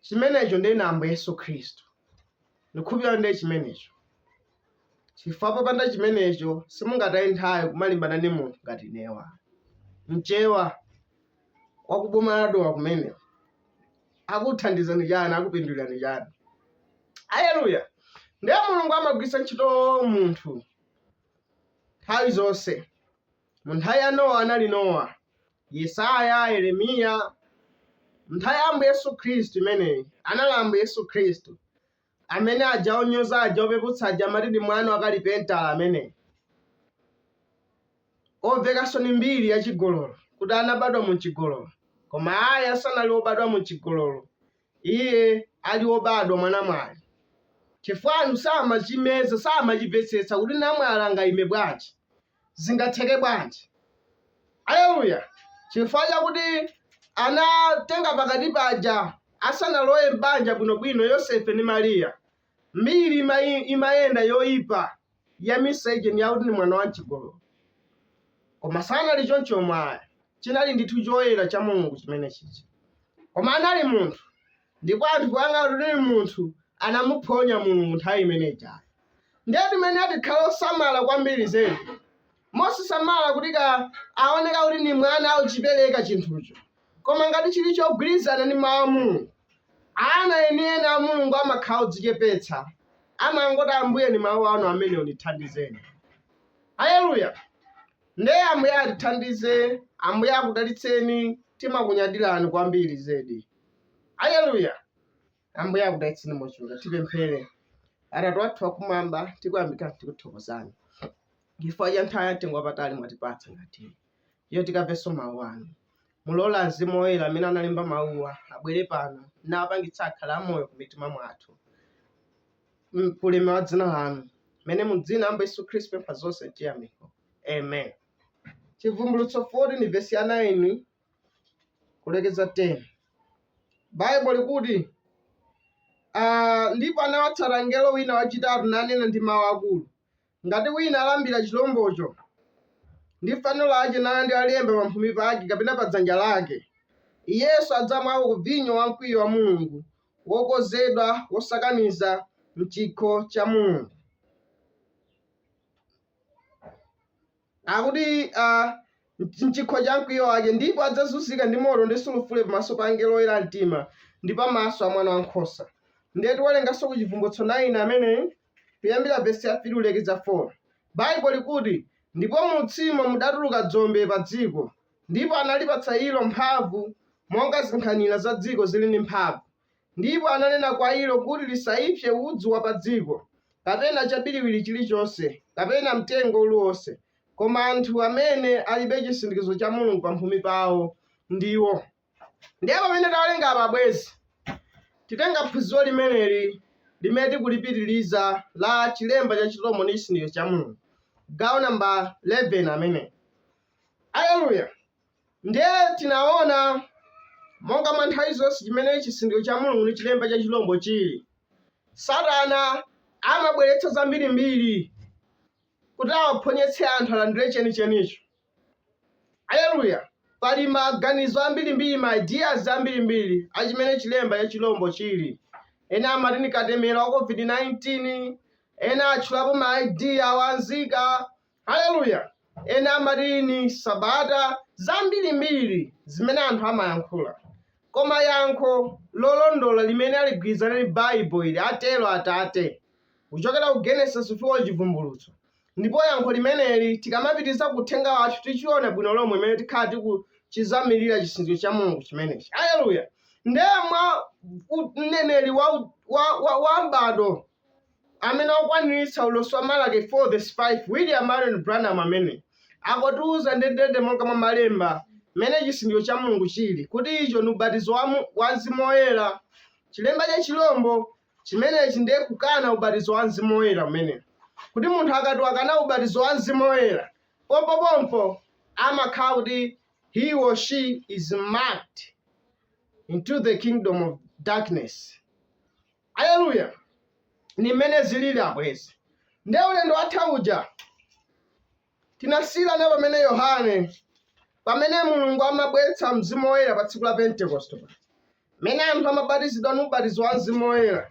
Chimenecho ndiye na Ambuye Yesu Khristu. Ndikhulupirira ndiye chimenecho. Chifukwa popanda chimenecho simungataye nthawi kumalimbana ndi munthu ngati inewa. Mchewa wakuboma la Dowa kumene. Akuthandizani chani, akupindulirani chani. Aleluya. Ndiye Mulungu amagwiritsa ntchito munthu nthawi zonse. Mu nthawi ya Nowa anali Nowa, Yesaya, Yeremiya. Mu nthawi ya Ambuye Yesu Khristu imeneyi anali Ambuye Yesu Khristu. Amene aja onyoza aja opeputsa aja amati ndi mwana wa kalipentala ameneyi. Omvekanso ni mbiri ya chigololo kuti anabadwa mu chigololo. Koma ayi sanali obadwa mu chigololo. Iye ali obadwa mwa namwali. Chifukwa anthu samachimeza, samachimvetsetsa kuti namwali angayime bwanji. zingatheke bwanji aleluya chifukwa chakuti anatenga pakati paja asanalowe m'banja bwinobwino yosefe ndi mariya mbiri imayenda yoyipa ya miseche ni yakuti ndi mwana wa mchigololo koma sanali chomwecho ayi chinali ndithu choyera cha mulungu chimene chichi koma anali munthu ndipo anthu poyang'ana kuti ndi munthu anamuphonya mulungu nthawi imene ijayo ndiye tiyenera tikhale osamala kwambiri zedi mosasamala kuti kaya aoneka kuti ndi mwana akuchipereka chinthucho koma ngati chili chogwirizana ndi mawu a mulungu ana enieni a mulungu amakhala odzichepetsa amangoti ambuye ni mawu anu amen mundithandizeni haleluya ndiye ambuye atithandize ambuye akudalitseni timakunyadirani kwambiri zedi haleluya ambuye akudalitseni mochuluka tipemphere atate athu akumwamba tikuyamika tikuthokozani chifukwa cha nthawi yamtengo wapatali mwatipatsa ngati iyo tikamvenso mawu anu mulole mzimu woyera amene analemba mawuwa abwere pano nawapangitsa akhale amoyo ku mitima mwathu kulemekeza dzina lanu amen mu dzina la ambuye yesu khristu pempha zonse chiyamiko amen chivumbulutso 14 vesi ya 9 kulekeza 10 baibo likuti ah, ndipo anawatsata mngelo wina wachitatu nanena ndi mawu akulu ngati wina alambira chilombocho ndi fano lake nalandira lemba pamphumi pake kapena pa dzanja lake iyenso adzamwako ku vinyo wa mkwiyo wa mulungu wokonzedwa wosakaniza mchikho cha mulungu akuti ah, mchikho cha mkwiyo wake ndipo adzazunzika ndi moto ndi sulufule pamaso pa angelo oyera mtima ndi pamaso a mwana wankhosa ndiye tiwerengenso ku chivumbulutso 9 amen kuyambira vesi ya 3 kulekeza 4 baibo likuti ndipo mu utsiwo mudatuluka dzombe pa dziko ndipo analipatsa ilo mphamvu monga zinkhanira za dziko zili ndi mphamvu Ndipo ananena kwa ilo kuti lisaipse udzu wa padziko, kapena chabiriwiri chilichonse, kapena mtengo uliwonse, koma anthu amene alibe chisindikizo cha Mulungu pamphumi pawo ndiwo. Ndiye pamene tawerenga apa abwenzi, titenga phunziro limeneli limene tikulipitiriza la chilemba cha Chirombo ndi chisindikizo cha Mulungu, gawo namba 11 amene. Aleluya! Ndiye tinaona monga mwa nthawi zonse chimene chisindikizo cha Mulungu ndi chilemba cha chilombo chili. Satana amabweretsa zambirimbiri kuti awaphonyetse anthu alandire chenichenicho. Aleluya! Pali maganizo ambirimbiri, ma ideas ambirimbiri a chimene chilemba cha chilombo chili. Ena amati ndi katemera wa COVID-19, ena atchulapo ma ID a unzika, Haleluya! Ena amati ni Sabata zambilimbili zimene anthu amayankhula. Koma yankho lolondola limene aligwilizana ni Baibulo ili, Atero Atate, kucokera ku Genesis kufika ku Chivumbulutso. Ndipo yankho limeneli tikamapitiliza ku uthenga wathu ticiona bwino lomwe mmene tikhala tikucizamilila cisindikizo ca Mulungu cimeneci. Haleluya! Ndiye mwa mneneli wa m'badwo amene akukwaniritsa ulosi wa Malaki 4 vesi 5, William Marrion Branham amene akutiuza ndendende monga mwa Malemba mmene chisindikizo cha Mulungu chiri, kuti icho ndi ubatizo wa Mzimu Woyera. Chilemba cha chilombo chimenechi ndiye kukana ubatizo wa Mzimu Woyera kumene. Kuti munthu akati wakana ubatizo wa Mzimu Woyera, pompopompo amakhala kuti he or she is marked into the kingdom of darkness. Aleluya! Ndi mmene zilili abwenzi. Ndiye ulendo watha uja tinasiyirana pamene Yohane, pamene Mulungu amabweretsa Mzimu Woyera pa tsiku la Pentekoste, mmene anthu amabatizidwa ndi ubatizo wa Mzimu Woyera,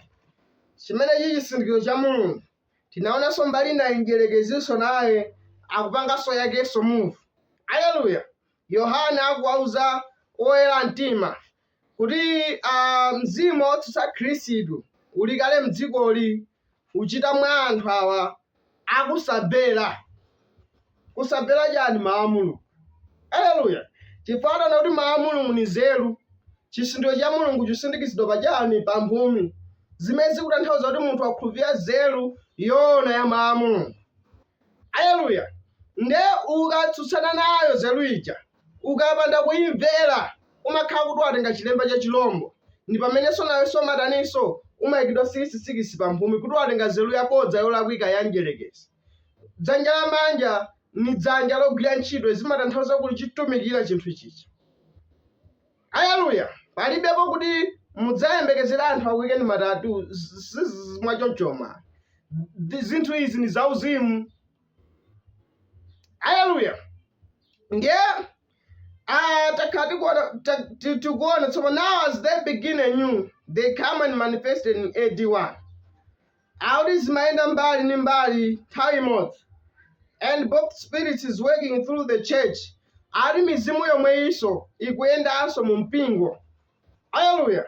chimene chili chisindikizo cha Mulungu. Tinaonanso mbali inayi, mdierekezinso naye akupanganso yakenso move. Aleluya! Yohane akuwauza oyera mtima kuti uh, mzimu wotsutsa khristu uli kale mdzikoli uchita mwa anthu awa akusamvera kusamvera chani mawu a mulungu aleluya chifukwa tati kuti mawu a mulungu ni nzeru chisindikizo cha mulungu chisindikizidwa pa chani pa mphumi zimene zikutanthauza kuti munthu wakhulupirira nzeru yoona ya mawu a mulungu aleluya nde ukatsutsana nayo nzeru ija Ukapanda kuimvera, umakhala kuti watenga chilemba cha chilombo, ndi pamenenso nawenso umataninso? Umaikidwa sikisi sikisi pa mphumi kuti watenga nzeru yabodza yolakwika ya Mdyerekezi. Dzanja lamanja ni dzanja logwira ntchito, zimatanthauza kuti ukutumikira chinthu chija. Aleluya! Palibepo kuti mudzayembekezere anthu akuikeni ma tattoo, zzz, mwachonchoma. Zinthu izi ni zauzimu. aleluya ndiye ah, takhala tikuona- ta- ti- tikuona tsopano now as they begin anew they came and manifested in ad 1 akuti zimayenda mbali ndi mbali nthawi imodzi and both spirits is working through the church ali mizimu yomweyinso ikuyendanso mu mpingo Hallelujah.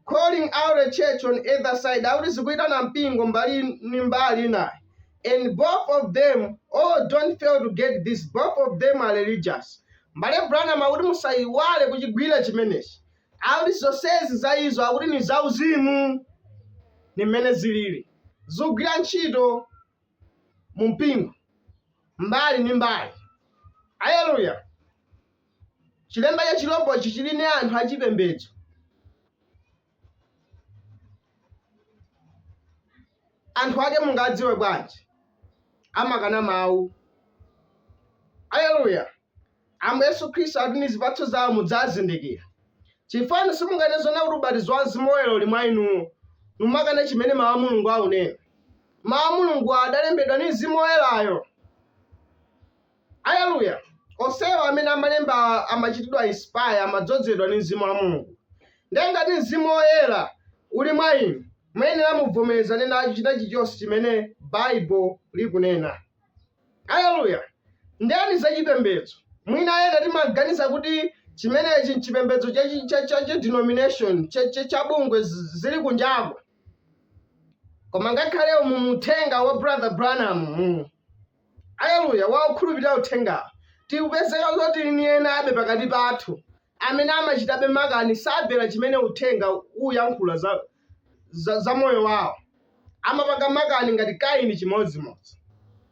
Calling out the church on either side. Akuti zikuitana mpingo mbali ni mbali inayo. And both of them, oh, don't fail to get this. Both of them are religious. Mbale Branham akuti musayiwale kuchigwira chimenechi. Akuti zonsezi za izo akuti ni zauzimu. Ni mmene zilili. Zikugwira ntchito mu mpingo, mbali ndi mbali. Aleluya! Chilemba cha chirombo ichi chili ndi anthu achipembedzo. Anthu ake mungawadziwe bwanji? Amakana mawu. Aleluya! Ambuye Yesu Khristu akuti ndi zipatso zawo mudzawazindikira. Chifukwa inu simunganene zoona kuti ubatizo wa Mzimu Woyera uli mwa inuwo, mumakana chimene Mau a Mulungu aunena. Mau a Mulungu adalembedwa ndi Mzimu Woyerayo. Aleluya! Onsewa amene amalemba amachitidwa inspire, amadzozedwa ndi Mzimu wa Mulungu. Ndiye ngati Mzimu Woyera uli mwa inu, muyenera mubvomerezane nacho china chilichonse chimene Bible likunena. Aleluya! Ndiyeno za chipembedzo. Mwina ena timaganiza kuti chimenechi nchipembedzo cha chi- cha- cha chi denomination cha- cha- cha bungwe z- zili kunjako. Koma ngakhale umu mu uthenga wa Brother Branham mm, aleluya wa okhulupirira uthenga tikupezeka zoti ni enabe pakati pathu amene amachitabe makani sabvera chimene uthenga uyankhula za, za, za moyo wawo amapanga makani ngati kaini chimodzimodzi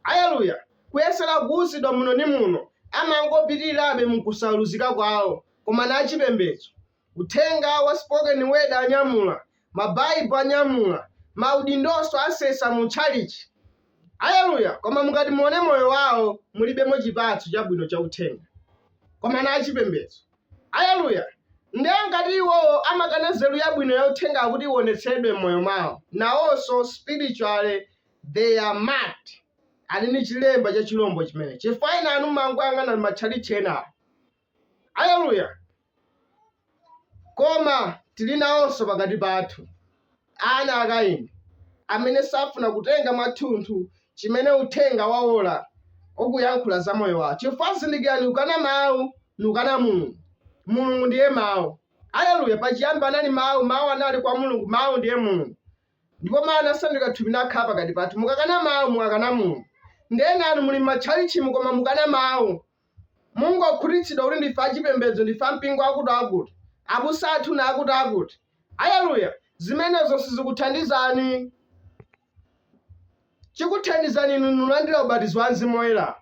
aleluya kuyesera kuuzidwa muno ndi muno amangopitirirabe mkusaluzika kwawo koma na achipembedzo uthenga wa spoken word anyamula mabaibu anyamula maudindonso asesa mu tchalichi aleluya koma mukati muone moyo wawo mulibemo chipatso chabwino cha uthenga koma na achipembedzo Aleluya! Ndiye ngati iwowo amakana nzeru yabwino ya uthenga kuti iwonetseredwe m'moyo mwawo, nawonso, spiritually, they are marked, ali ndi chilemba cha chirombo chimene, chifukwa enanu mumangoyang'ana m'matchalitchi enawa. Aleluya! Koma tiri nawonso pakati pathu. ana a Kaini, amene safuna kutenga mwathunthu chimene uthenga wa ora ukuyankhula za moyo wawo, chifukwa, zindikirani, ukana Mawu ni ukana Mulungu. Mulungu ndiye Mawu. Aleluya! Pachiyambi anali Mawu, Mawu anali kwa Mulungu, Mawu ndiye Mulungu. Ndipo Mawu anasandulika thupi nakhala pakati pathu. Mukakana Mawu, mukakana Mulungu. Ndi ena anu muli m'matchalitchimu koma mukana Mawu. Mungokhutitsidwa kuti ndife achipembedzo, ndife a mpingo akuti-akuti, abusa athu na akuti-akuti. Aleluya! Zimenezo sizikuthandizani. Chikuthandizani inu ndi kulandira ubatizo wa Mzimu Woyera.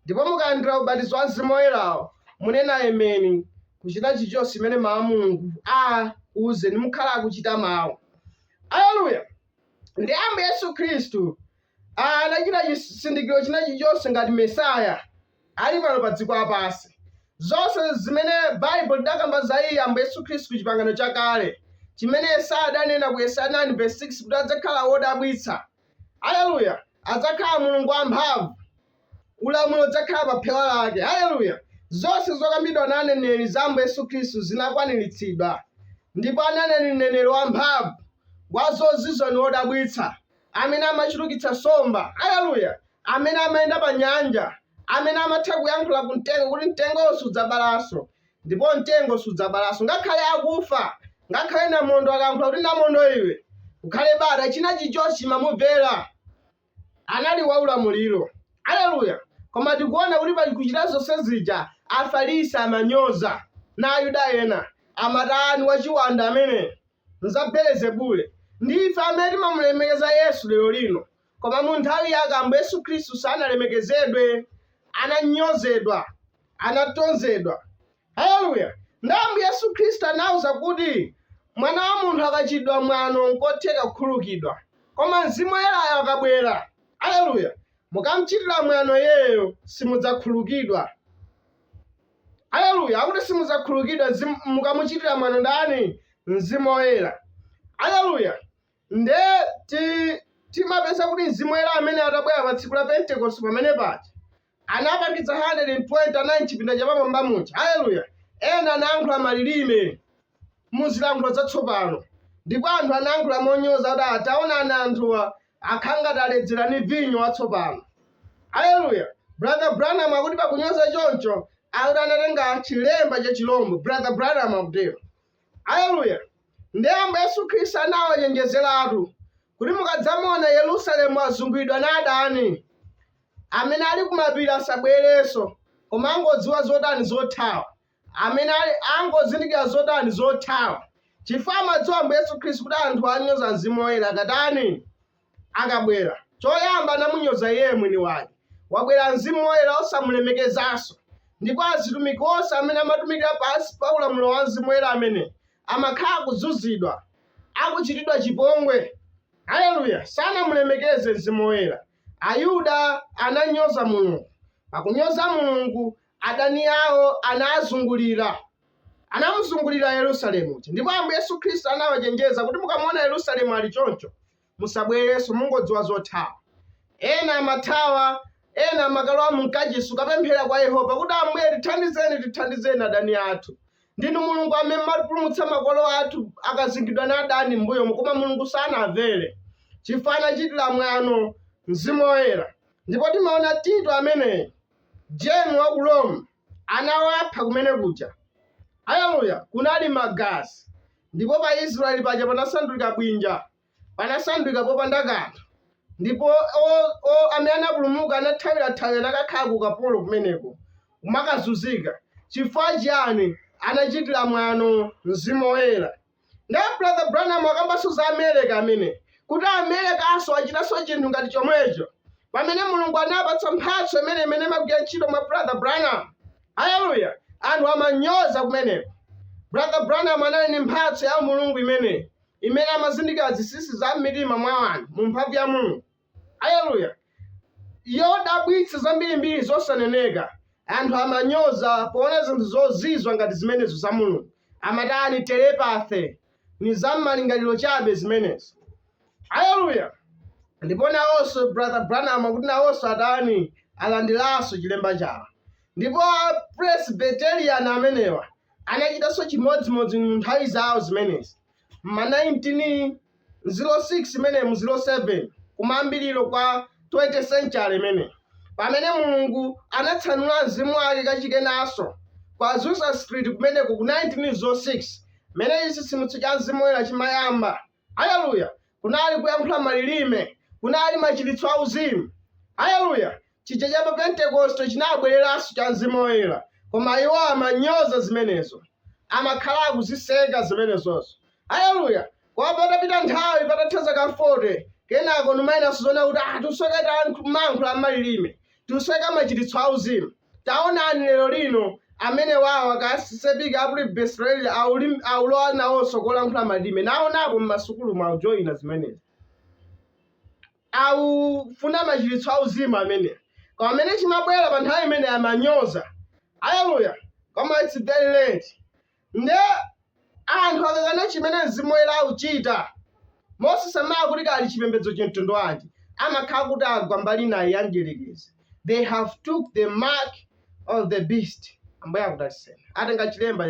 Ndipo mukalandira ubatizo wa Mzimu Woyerawo, munene Ameni! ku chinthu chilichonse chimene Mawu a Mulungu akuuzeni, mukhala akuchita Mawu. Aleluya! Ndi Ambuye Yesu Khristu anachita chizindikiro china chilichonse ngati Mesiya ali pano pa dziko lapansi. Zonse zimene Baibulo lidakamba za iye Ambuye Yesu Khristu chipangano chakale chimene Yesaya adanena ku Yesaya 9 verse 6 kuti adzakhala wodabwitsa. Haleluya! Adzakhala Mulungu wamphamvu. Ulamuliro udzakhala pa phewa lake. Haleluya! Zonse zokambidwa na aneneri za Ambuye Yesu Khristu zinakwaniritsidwa. Ndipo anali mneneri wamphamvu, wa zozizwitsa ni wodabwitsa. amene amachulukitsa nsomba aleluya amene amayenda pa nyanja amene amatha kuyankhula ku mtengo kuti mtengo sudzabalanso ndipo mtengo sudzabalanso ngakhale akufa ngakhale namondo akayankhula kuti namondo iwe ukhale bata china chichonse chimamumvera anali waulamuliro aleluya koma tikuona kuti pakuchita zonse zija afarisi amanyoza na ayuda ena amati ni wachiwanda amene nza Belezebule. Ndi ife amene timamulemekeza Yesu lero lino, koma mu nthawi Yake Ambuye Yesu Khristu sanalemekezedwe, ananyozedwa, anatonzedwa. Aleluya! Ndi Ambuye Yesu Khristu anawauza kuti, Mwana wa munthu akachitidwa mwano, nkotheka kukhululukidwa, koma Mzimu Woyerayo akabwera, aleluya, mukamchitira mwano Iyeyo, simudzakhululukidwa. Aleluya! Akuti simudzakhululukidwa mukamuchitira mwano ndani? Mzimu Woyera. Aleluya! Nde timapeza kuti mzimu woyera amene atabwera pa tsiku la Pentecost pamene paja anabatiza 120 anali mchipinda chapamwamba muja. Aleluya! Ena anayankhula malilime. mu zilankhulo zatsopano. Ndipo anthu anayankhula monyoza kuti, ah, Taonani anthuwa akhala ngati aledzera ndi vinyo watsopano. Aleluya! Brother Branham akuti pakunyoza choncho, akuti anatenga chilemba cha chilombo. Brother Branham akutero. Aleluya! Ndiye Ambuye Yesu Khristu anawachenjezeratu kuti mukadzamuona Yerusalemu wazunguliridwa ndi adani, amene ali kumapiri asabwerenso, koma angodziwa zotani zothawa. amene ali angozindikira zotani zothawa chifukwa amadziwa Ambuye Yesu Khristu kuti anthu anyoza Mzimu Woyera akatani akabwera choyamba anamunyoza iye mwini wake wabwera Mzimu Woyera osamulemekezanso ndipo azitumiki onse amene amatumikira pansi pa ulamuliro wa Mzimu Woyera amene amakhala akuzunzidwa akuchitidwa chipongwe haleluya sanamulemekeze Mzimu Woyera Ayuda ananyoza Mulungu pakunyoza Mulungu adani awo anazungulira, anamuzungulira Yerusalemu uja. Ndipo Ambuye Yesu Khristu anawachenjeza kuti mukamuona Yerusalemu ali choncho, musabwerenso, mungodziwa zothawa. Ena amathawa, ena amakalowa mu mkachisi kukapemphera kwa Yehova kuti Ambuye tithandizeni, tithandizeni adani athu. Ndinu Mulungu amene mumapulumutsa makolo athu akazingidwa na adani m'mbuyomo, koma Mulungu sanamvere chifukwa anachitira mwano mzimu woyera. Ndipo timaona Tito ameneyi General wa ku Rome anawapha kumene kuja. Aleluya! Kunali Magazi. Ndipo pa Israeli paja panasandulika bwinja, panasandulika popanda kanthu. Ndipo o, o, amene anapulumuka anathawira thawira nakakhala ku kapolo kumeneko, kumakazunzika. Chifukwa chiyani? Anachitira mwano Mzimu Woyera. Nde Brother Branham akambanso za America ameneyi, kuti Americanso achitanso chinthu ngati chomwecho, pamene Mulungu anapatsa mphatso imene imene imagwira ntchito mwa Brother Branham. Haleluya! Anthu amanyoza kumeneko. Brother Branham anali ndi mphatso ya Mulungu imeneyi, imene amazindikira zinsinsi za m'mitima mwa anthu mu mphamvu ya Mulungu. Aleluya! Yodabwitsa zambirimbiri zosaneneka. Anthu amanyoza poona zinthu zozizwa ngati zimenezo za Mulungu. Amatani? Telepathy. Ni za mmalingaliro chabe zimenezo. Aleluya! Ndipo nawonso Brother Branham akuti nawonso atani? Alandiranso chilemba chawo. Ndipo a Presbyterian amenewa anachitanso chimodzimodzi mu nthawi zawo zimenezi. m'ma 1906 mene mu 07 kumayambiriro kwa 20 century mene pamene mulungu anatsanula mzimu wake kachikenanso kwa azusa street kumeneko ku 1906 mene chitsitsimutso cha mzimu woyera chimayamba haleluya kunali kuyankhula malilime kunali machiritso auzimu haleluya chija cha pa Pentekoste chinabwereranso cha Mzimu Woyera, koma iwo amanyoza zimenezo, amakhala akuziseka zimenezozo. Aleluya! Koma patapita nthawi, patatha zaka 40, kenako nkumayambanso kuona kuti ah, tikusoweka timayankhula malilime, tikusoweka machiritso auzimu. Taonani lero lino amene awa a Katolika a Presbyterian akulowa nawonso kulankhula malilime, naonapo m'masukulu akujoina zimenezi. akufuna machiritso auzimu amene koma amene chimabwera pa nthawi imene amanyoza aleluya koma it's very late nde anthu akakana chimene mzimu woyera akuchita mosasamala kuti kaya ali chipembedzo cha mtundu wanji amakhala kuti agwa mbali ina ya mdierekezi they have took the mark of the beast ambuye akudalitseni atenga chilemba